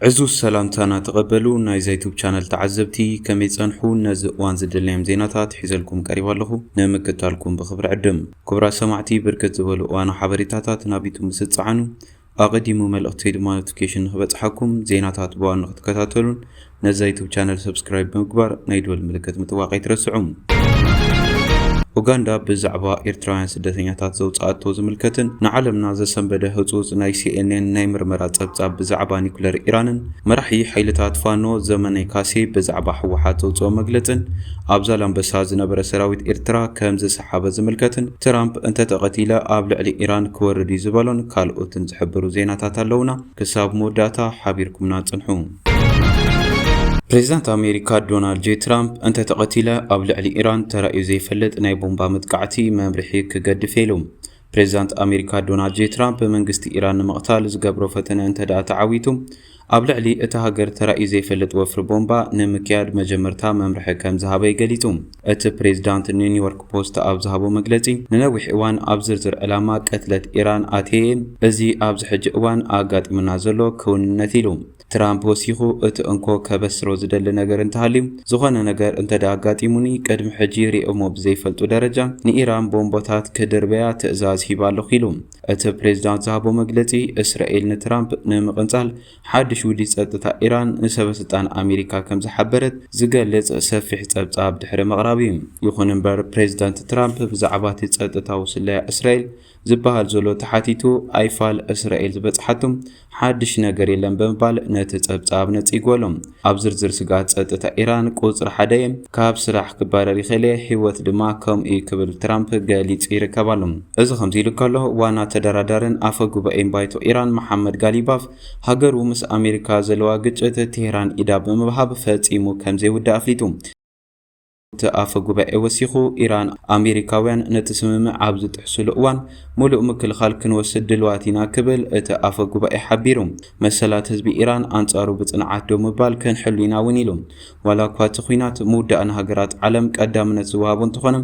ዕዙዝ ሰላምታና ተቐበሉ ናይ ዘይቱብ ቻነል ተዓዘብቲ ከመይ ጸንሑ ነዚ እዋን ዝደለዮም ዜናታት ሒዘልኩም ቀሪባ ኣለኹ ንምክታልኩም ብኽብሪ ዕድም ክብራት ሰማዕቲ ብርክት ዝበሉ እዋኑ ሓበሬታታት ናብ ዩቱብ ምስ እትጸዓኑ ኣቐዲሙ መልእኽተይ ድማ ኖቲፊኬሽን ንኽበጽሓኩም ዜናታት ብዋኑ ክትከታተሉን ነዛ ዩቱብ ቻነል ሰብስክራይብ ብምግባር ናይ ደወል ምልክት ምጥዋቕ ኣይትረስዑ። ኡጋንዳ ብዛዕባ ኤርትራውያን ስደተኛታት ዘውጽኣቶ ዝምልከትን ንዓለምና ዘሰንበደ ህጹጽ ናይ ሲኤንኤን ናይ ምርመራ ጸብጻብ ብዛዕባ ኒኩለር ኢራንን መራሒ ሓይልታት ፋኖ ዘመነ ካሴ ብዛዕባ ህወሓት ዘውጽኦ መግለጽን ኣብ ዛላምበሳ ዝነበረ ሰራዊት ኤርትራ ከም ዝሰሓበ ዝምልከትን ትራምፕ እንተተቐቲለ ኣብ ልዕሊ ኢራን ክወርድ እዩ ዝበሎን ካልኦትን ዝሕብሩ ዜናታት ኣለውና። ክሳብ መወዳእታ ሓቢርኩምና ጽንሑ። ፕሬዚዳንት ኣሜሪካ ዶናልድ ጄ ትራምፕ እንተተቐቲለ ኣብ ልዕሊ ኢራን ተራእዩ ዘይፈልጥ ናይ ቦምባ መጥቃዕቲ መምርሒ ክገድፍ ኢሉ። ፕሬዚዳንት ኣሜሪካ ዶናልድ ጄ ትራምፕ መንግስቲ ኢራን ንምቕታል ዝገብሮ ፈተነ እንተደኣ ተዓዊቱ ኣብ ልዕሊ እታ ሃገር ተራእዩ ዘይፈልጥ ወፍሪ ቦምባ ንምክያድ መጀመርታ መምርሒ ከምዝሃበ ገሊጹ። እቲ ፕሬዝዳንት ንኒውዮርክ ፖስት ኣብ ዝሃቦ መግለጺ፣ ንነዊሕ እዋን ኣብ ዝርዝር ዕላማ ቅትለት ኢራን ኣትየ'የ፣ እዚ ኣብዚ ሕጂ እዋን ኣጋጢሙና ዘሎ ክውንነት ኢሉ። ትራምፕ ወሲኹ፣ እቲ እንኮ ከበስሮ ዝደሊ ነገር እንተሃልዩ፣ ዝኾነ ነገር እንተድኣ ኣጋጢሙኒ፣ ቅድሚ ሕጂ ሪኦሞ ብዘይፈልጡ ደረጃ ንኢራን ቦምቦታት ክድርበያ ትእዛዝ ሂበ ኣለኹ ኢሉ። እቲ ፕሬዝዳንት ዝሃቦ መግለጺ፣ እስራኤል ንትራምፕ ንምቕንጻል ሓድሽ ውዲት ጸጥታ ኢራን ንሰበስልጣን ኣሜሪካ ከም ዝሓበረት ዝገልጽ ሰፊሕ ጸብጻብ ድሕሪ ምቕራብ'ዩ። ይኹን እምበር ፕሬዝዳንት ትራምፕ ብዛዕባ'ቲ ጸጥታዊ ስለያ እስራኤል ዝበሃል ዘሎ ተሓቲቱ ኣይፋል እስራኤል ዝበጽሓቶ ሓድሽ ነገር የለን ብምባል ነቲ ጸብጻብ ነጺግዎ'ሎ። ኣብ ዝርዝር ስግኣት ጸጥታ ኢራን ቁጽሪ ሓደ እየ፣ ካብ ስራሕ ክባረር ይኽእል እየ፣ ህይወት ድማ ከምኡ እዩ ክብል ትራምፕ ገሊጹ ይርከብ ኣሎ። እዚ ከምዚ ኢሉ ከሎ፣ ዋና ተደራዳርን ኣፈ ጉባኤን ባይቶ ኢራን መሓመድ ጋሊባፍ፣ ሃገሩ ምስ ኣሜሪካ ዘለዋ ግጭት ቴህራን ኢዳ ብምብሃብ ፈጺሙ ከምዘይውዳእ ኣፍሊጡ። እቲ ኣፈ ጉባኤ ወሲኹ፣ ኢራን፣ ኣሜሪካውያን ነቲ ስምምዕ ኣብ ዝጥሕሱሉ እዋን ምሉእ ምክልኻል ክንወስድ ድልዋት ኢና ክብል እቲ ኣፈ ጉባኤ ሓቢሩ። መሰላት ህዝቢ ኢራን ኣንጻሩ ብጽንዓት ደው ምባል ክንሕሉ ኢና እውን ኢሉ። ዋላኳ እቲ ኲናት ምውዳእ ንሃገራት ዓለም ቀዳምነት ዝወሃቦ እንተኾነ፣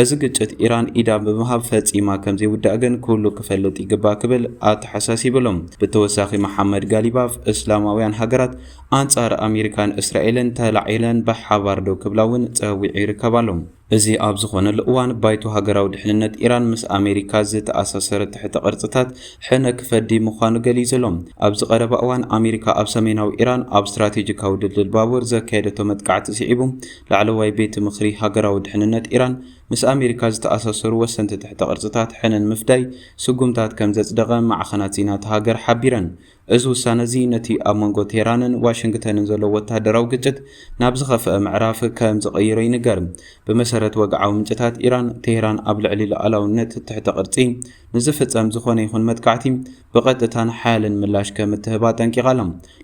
እዚ ግጭት ኢራን ኢዳ ብምሃብ ፈጺማ ከምዘይውዳእ ግን ኩሉ ክፈልጥ ይግባእ ክብል ኣተሓሳሲብሉ። ብተወሳኺ መሓመድ ጋሊባፍ፣ እስላማውያን ሃገራት ኣንጻር ኣሜሪካን እስራኤልን ተላዒለን ብሓባር ደው ክብላ እውን ጸዊዑ ይርከብ ኣሎ። እዚ ኣብ ዝኾነሉ እዋን፣ ባይቶ ሃገራዊ ድሕንነት ኢራን ምስ ኣሜሪካ ዝተኣሳሰረ ትሕተ ቅርጽታት ሕነ ክፈዲ ምዃኑ ገሊጹ ኣሎ። ኣብዚ ቀረባ እዋን ኣሜሪካ ኣብ ሰሜናዊ ኢራን ኣብ ስትራቴጂካዊ ድልድል ባቡር ዘካየደቶ መጥቃዕቲ ስዒቡ፣ ላዕለዋይ ቤት ምኽሪ ሃገራዊ ድሕንነት ኢራን ምስ ኣሜሪካ ዝተኣሳሰሩ ወሰንቲ ትሕተ ቅርጽታት ሕነ ንምፍዳይ ስጉምታት ከም ዘጽደቐ ማዕኸናት ዜና እታ ሃገር ሓቢረን። እዚ ውሳነ'ዚ ነቲ ኣብ መንጎ ቴህራንን ዋሽንግተንን ዘሎ ወተሃደራዊ ግጭት ናብ ዝኸፍኣ ምዕራፍ ከም ዝቕይሮ ይንገር። ብመሰረት ወግዓዊ ምንጭታት ኢራን፣ ቴህራን ኣብ ልዕሊ ሉኣላውነት ትሕተ ቅርጺ ንዝፍጸም ዝኾነ ይኹን መጥቃዕቲ ብቐጥታን ሓያልን ምላሽ ከም እትህብ ኣጠንቂቓ ኣላ።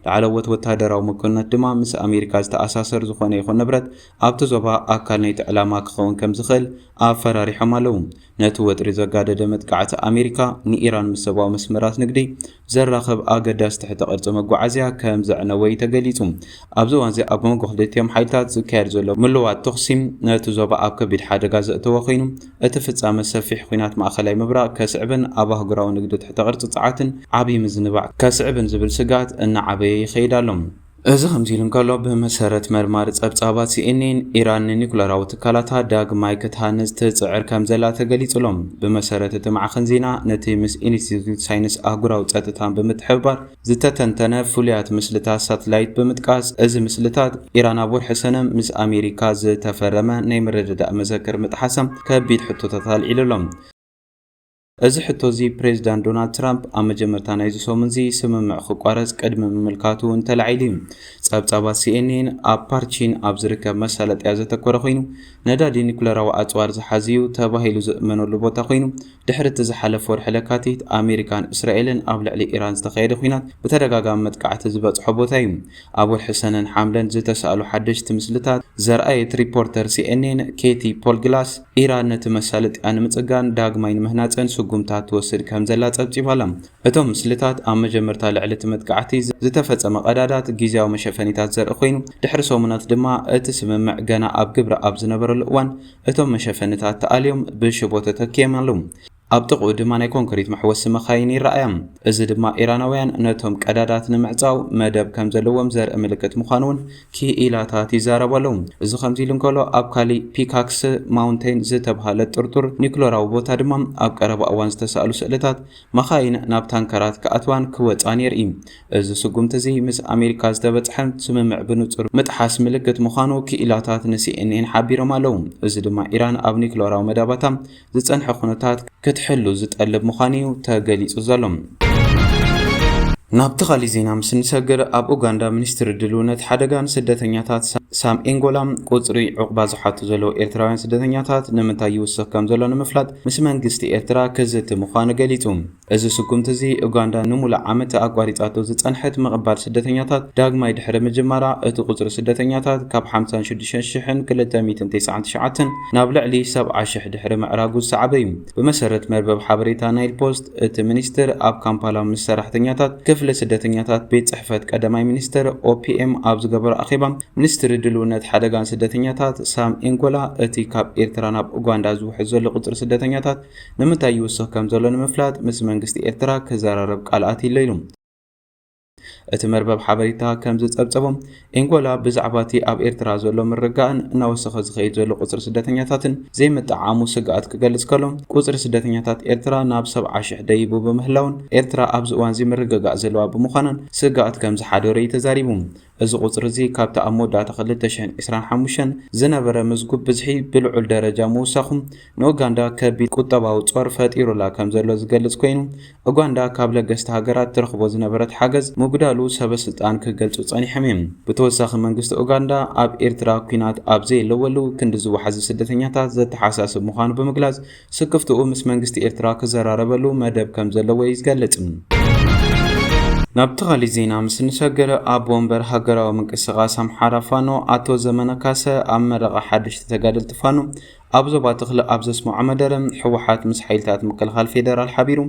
ላዕለዎት ወተሃደራዊ መኮንናት ድማ ምስ ኣሜሪካ ዝተኣሳሰር ዝኾነ ይኹን ንብረት ኣብቲ ዞባ ኣካል ናይቲ ዕላማ ክኸውን ከም ዝኽእል ኣፈራሪሖም ኣለዉ። ነቲ ወጥሪ ዘጋደደ መጥቃዕቲ ኣሜሪካ ንኢራን ምስ ሰብኣዊ መስመራት ንግዲ ዘራኽብ ኣገዳሲ ትሕተ ቅርጺ መጓዓዝያ ከም ዘዕነወ'ዩ ተገሊጹ። ኣብዚ እዋን'ዚ ኣብ መንጎ ክልቲኦም ሓይልታት ዝካየድ ዘሎ ምልዋጥ ተኹሲ ነቲ ዞባ ኣብ ከቢድ ሓደጋ ዘእተወ ኮይኑ፣ እቲ ፍጻመ ሰፊሕ ኲናት ማእከላይ ምብራቕ ከስዕብን ኣብ ኣህጉራዊ ንግዲ ትሕተ ቅርጺ ጸዓትን ዓቢ ምዝንባዕ ከስዕብን ዝብል ስግኣት እናዓበየ ይኸይድ ኣሎ። እዚ ከምዚ ኢሉ እንከሎ ብመሰረት መርማሪ ጸብጻባት ሲኤንኤን ኢራን ንኒኩለራዊ ትካላታ ዳግማይ ክትሃንጽ ትጽዕር ከም ዘላ ተገሊጹ ብመሰረት እቲ ማዕኸን ዜና ነቲ ምስ ኢንስቲትዩት ሳይንስ ኣህጉራዊ ጸጥታን ብምትሕብባር ዝተተንተነ ፍሉያት ምስልታት ሳትላይት ብምጥቃስ እዚ ምስልታት ኢራን ኣብ ወርሒ ሰነ ምስ ኣሜሪካ ዝተፈረመ ናይ ምርድዳእ መዘክር ምጥሓሳ ከቢድ ሕቶታት ኣልዒሉ ኣሎ። እዚ ሕቶ እዚ ፕሬዚዳንት ዶናልድ ትራምፕ ኣብ መጀመርታ ናይዚ ሰሙን እዚ ስምምዕ ክቋረፅ ቅድሚ ምምልካቱ እውን ተላዒሉ እዩ። ፀብፃባት ሲኤንኤን ኣብ ፓርቺን ኣብ ዝርከብ መሳለጥያ ዘተኮረ ኮይኑ ነዳዲ ኒኩለራዊ ኣፅዋር ዝሓዝ እዩ ተባሂሉ ዝእመነሉ ቦታ ኮይኑ ድሕሪ እቲ ዝሓለፈ ወርሒ ለካቲት ኣሜሪካን እስራኤልን ኣብ ልዕሊ ኢራን ዝተኻየደ ኲናት ብተደጋጋሚ መጥቃዕቲ ዝበፅሖ ቦታ እዩ። ኣብ ወርሒ ሰነን ሓምለን ዝተሳእሉ ሓደሽቲ ምስልታት ዘርኣየት ሪፖርተር ሲኤንኤን ኬቲ ፖልግላስ፣ ኢራን ነቲ መሳለጥያ ንምጽጋን ዳግማይ ንምህናጸን ስጉምታት ትወስድ ከምዘላ ጸብጺባ ኣላ። እቶም ምስልታት ኣብ መጀመርታ ልዕሊ እቲ መጥቃዕቲ ዝተፈጸመ ቀዳዳት ግዝያዊ መሸፈኒታት ዘርኢ ኰይኑ፣ ድሕሪ ሰሙናት ድማ እቲ ስምምዕ ገና ኣብ ግብሪ ኣብ ዝነበረሉ እዋን እቶም መሸፈኒታት ተኣልዮም ብሽቦ ተተኪዮም ኣለዉ። ኣብ ጥቕኡ ድማ ናይ ኮንክሪት መሕወሲ መካይን ይረኣያ። እዚ ድማ ኢራናውያን ነቶም ቀዳዳት ንምዕጻው መደብ ከም ዘለዎም ዘርኢ ምልክት ምዃኑ'ውን ክኢላታት ይዛረቡ ኣለዉ። እዚ ከምዚ ኢሉ እንከሎ፣ ኣብ ካልእ ፒካክስ ማውንተይን ዝተብሃለ ጥርጡር ኒዩክለራዊ ቦታ ድማ ኣብ ቀረባ እዋን ዝተሳእሉ ስእልታት መኻይን ናብ ታንከራት ክኣትዋን ክወጻን የርኢ። እዚ ስጉምቲ'ዚ ምስ ኣሜሪካ ዝተበጽሐ ስምምዕ ብንጹር ምጥሓስ ምልክት ምዃኑ ክኢላታት ንሲኤንኤን ሓቢሮም ኣለዉ። እዚ ድማ ኢራን ኣብ ኒዩክለራዊ መዳባታ ዝጸንሐ ኩነታት ክትሕሉ ዝጠልብ ምዃኑ'ዩ ተገሊጹ ዘሎ። ናብቲ ካልእ ዜና ምስ እንሰግር፣ ኣብ ኡጋንዳ ሚኒስትሪ ድልውነት ሓደጋን ስደተኛታት ሳም ኤንጎላ፣ ቁጽሪ ዑቕባ ዝሓቱ ዘለዉ ኤርትራውያን ስደተኛታት ንምንታይ ይውስኽ ከምዘሎ ንምፍላጥ ምስ መንግስቲ ኤርትራ ክዝቲ ምዃኑ ገሊጹ። እዚ ስጉምቲ እዚ፣ ኡጋንዳ ንምሉእ ዓመት ኣቋሪጻቶ ዝጸንሐት ምቕባል ስደተኛታት ዳግማይ ድሕሪ ምጅማራ፣ እቲ ቁጽሪ ስደተኛታት ካብ ሓምሳን ሽዱሽተን ሽሕን ክልተ ሚእትን ተስዓን ትሽዓተን ናብ ልዕሊ ሰብዓ ሽሕ ድሕሪ ምዕራጉ ዝሰዓበ እዩ። ብመሰረት መርበብ ሓበሬታ ናይል ፖስት፣ እቲ ሚኒስትር ኣብ ካምፓላ ምስ ሰራሕተኛታት ክፍሊ ስደተኛታት ቤት ጽሕፈት ቀዳማይ ሚኒስትር፣ OPM፣ ኣብ ዝገበሮ ኣኼባ፣ ሚኒስትሪ ድልውነት ሓደጋን ስደተኛታት ሳም ኢንጎላ፣ እቲ ካብ ኤርትራ ናብ ኡጋንዳ ዝውሕዝ ዘሎ ቁጽሪ ስደተኛታት ንምንታይ ይውስኽ ከም ዘሎ ንምፍላጥ ምስ መንግስቲ ኤርትራ ክዘራረብ ቃል ኣትይለ ኢሉ። እቲ መርበብ ሓበሬታ ከም ዝጸብጸቦ ኤንጎላ ብዛዕባ እቲ ኣብ ኤርትራ ዘሎ ምርጋእን እናወሰኸ ዝኸይድ ዘሎ ቁጽሪ ስደተኛታትን ዘይምጥዕዓሙ ስግኣት ክገልጽ ከሎ ቁጽሪ ስደተኛታት ኤርትራ ናብ ሰብዓ ሽሕ ደይቡ ብምህላውን ኤርትራ ኣብዚ እዋንዚ ምርግጋእ ዘለዋ ብምዃናን ስግኣት ከም ዝሓደሮ እዩ ተዛሪቡ። እዚ ቁጽሪ እዚ ካብቲ ኣብ መወዳእታ ክልተ ሽሕን ዕስራን ሓሙሽተን ዝነበረ ምዝጉብ ብዝሒ ብልዑል ደረጃ ምውሳኹ ንኡጋንዳ ከቢድ ቁጠባዊ ጾር ፈጢሩላ ከምዘሎ ዝገልጽ ኮይኑ ኡጋንዳ ካብ ለገስቲ ሃገራት ትረኽቦ ዝነበረት ሓገዝ ምጉዳሉ ሰበስልጣን ክገልጹ ጸኒሖም እዮም። ብተወሳኺ መንግስቲ ኡጋንዳ ኣብ ኤርትራ ኲናት ኣብ ዘየለወሉ ክንዲ ዝወሓዙ ስደተኛታት ዘተሓሳስብ ምዃኑ ብምግላጽ ስክፍትኡ ምስ መንግስቲ ኤርትራ ክዘራረበሉ መደብ ከም ዘለዎ እዩ ዝገልጽ። ናብቲ ካሊእ ዜና ምስ እንሰግር፣ ኣቦ ወንበር ሃገራዊ ምንቅስቓስ ኣምሓራ ፋኖ ኣቶ ዘመነ ካሰ ኣብ መረቓ ሓደሽቲ ተጋደልቲ ፋኖ ኣብ ዞባ ተኽለ ኣብ ዘስመዖ መደረ፣ ህወሓት ምስ ሓይልታት ምክልኻል ፌደራል ሓቢሩ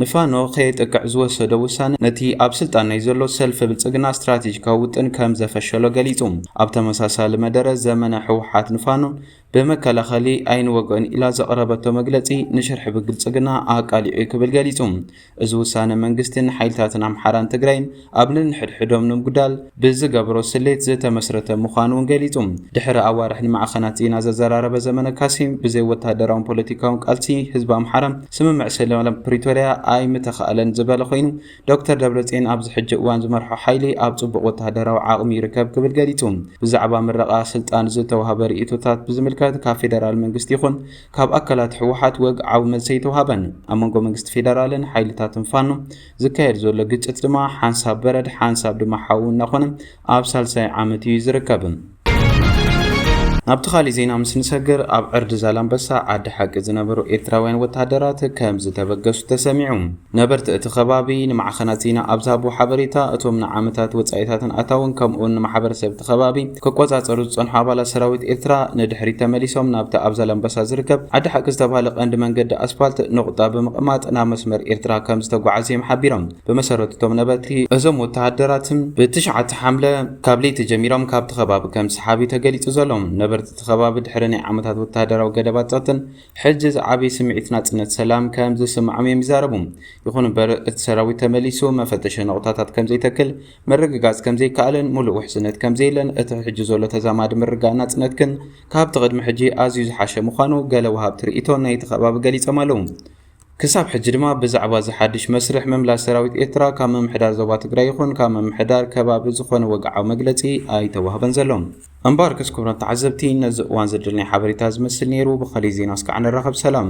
ንፋኖ ከየጥቅዕ ዝወሰዶ ውሳነ ነቲ ኣብ ስልጣን ናይ ዘሎ ሰልፊ ብልጽግና ስትራቴጂካዊ ውጥን ከም ዘፈሸሎ ገሊጹ። ኣብ ተመሳሳሊ መደረ ዘመነ፣ ህወሓት ንፋኖ ብመከላኸሊ ኣይንወግኦን ኢላ ዘቕረበቶ መግለጺ ንሽርሒ ብግልጽግና ኣቃሊዑ'ዩ ክብል ገሊጹ። እዚ ውሳነ መንግስቲ ንሓይልታትን ኣምሓራን ትግራይን ኣብ ነንሕድሕዶም ንምጉዳል ብዝገብሮ ስሌት ዝተመስረተ ምዃኑ'ውን ገሊጹ። ድሕሪ ኣዋርሕ ንማዕኸናት ዜና ዘዘራረበ ዘመነ ካሴ፣ ብዘይ ወተሃደራውን ፖለቲካውን ቃልሲ ህዝቢ ኣምሓራ ስምምዕ ሰላም ፕሪቶርያ ኣይምተኻእለን ዝበለ ኮይኑ፣ ዶክተር ደብረጽዮን ኣብዚ ሕጂ እዋን ዝመርሖ ሓይሊ ኣብ ጽቡቕ ወተሃደራዊ ዓቕሚ ይርከብ ክብል ገሊጹ። ብዛዕባ ምረቓ ስልጣን ዝተዋህበ ርእይቶታት ብዝምልከት ካብ ፌደራል መንግስቲ ይኹን ካብ ኣካላት ህወሓት ወግዓዊ መልሲ ኣይተዋህበን። ኣብ መንጎ መንግስቲ ፌደራልን ሓይልታትን ፋኖ ዝካየድ ዘሎ ግጭት ድማ ሓንሳብ በረድ ሓንሳብ ድማ ሓዊ እናኾነ ኣብ ሳልሳይ ዓመት እዩ ዝርከብ። ናብቲ ካሊእ ዜና ምስ ንሰግር ኣብ ዕርዲ ዛላምበሳ ዓዲ ሓቂ ዝነበሩ ኤርትራውያን ወተሃደራት ከም ዝተበገሱ ተሰሚዑ። ነበርቲ እቲ ከባቢ ንማዕኸናት ዜና ኣብ ዝሃብዎ ሓበሬታ እቶም ንዓመታት ወጻኢታትን ኣታውን ከምኡውን ንማሕበረሰብ እቲ ከባቢ ክቆጻጸሩ ዝጸንሑ ኣባላት ሰራዊት ኤርትራ ንድሕሪት ተመሊሶም ናብቲ ኣብ ዛላምበሳ ዝርከብ ዓዲ ሓቂ ዝተባህለ ቀንዲ መንገዲ ኣስፋልት ኑቕጣ ብምቕማጥ ናብ መስመር ኤርትራ ከም ዝተጓዓዙ እዮም ሓቢሮም። ብመሰረት እቶም ነበርቲ፣ እዞም ወተሃደራት ብ ትሽዓተ ሓምለ ካብ ለይቲ ጀሚሮም ካብቲ ከባቢ ከም ዝሰሓቡ'ዩ ተገሊጹ ዘሎ። ነበርቲ እቲ ከባቢ ድሕሪ ናይ ዓመታት ወተሃደራዊ ገደባት ጸጥታን ሕጂ ዝዓበየ ስምዒት ናጽነት ሰላም ከም ዝስምዖም'ዮም ይዛረቡ። ይኹን እምበር እቲ ሰራዊት ተመሊሱ መፈተሺ ነቑጣታት ከም ዘይተክል ምርግጋጽ ከም ዘይከኣልን ምሉእ ውሕስነት ከም ዘየለን እቲ ሕጂ ዘሎ ተዛማዲ ምርግጋእ ናጽነት ግን ካብቲ ቅድሚ ሕጂ ኣዝዩ ዝሓሸ ምዃኑ ገለ ወሃብቲ ርእይቶ ናይቲ ከባቢ ገሊጾም ኣለዉ። ክሳብ ሕጂ ድማ ብዛዕባ እዚ ሓድሽ መስርሕ ምምላስ ሰራዊት ኤርትራ ካብ ምምሕዳር ዞባ ትግራይ ይኹን ካብ ምምሕዳር ከባቢ ዝኾነ ወግዓዊ መግለጺ ኣይተዋህበን ዘሎ። እምበኣርከስ ክቡራት ተዓዘብቲ ነዚ እዋን ዘደለናዮ ሓበሬታ እዚ መስል ነይሩ፣ ብኻሊእ ዜና እስካዕ ንራኸብ ሰላም።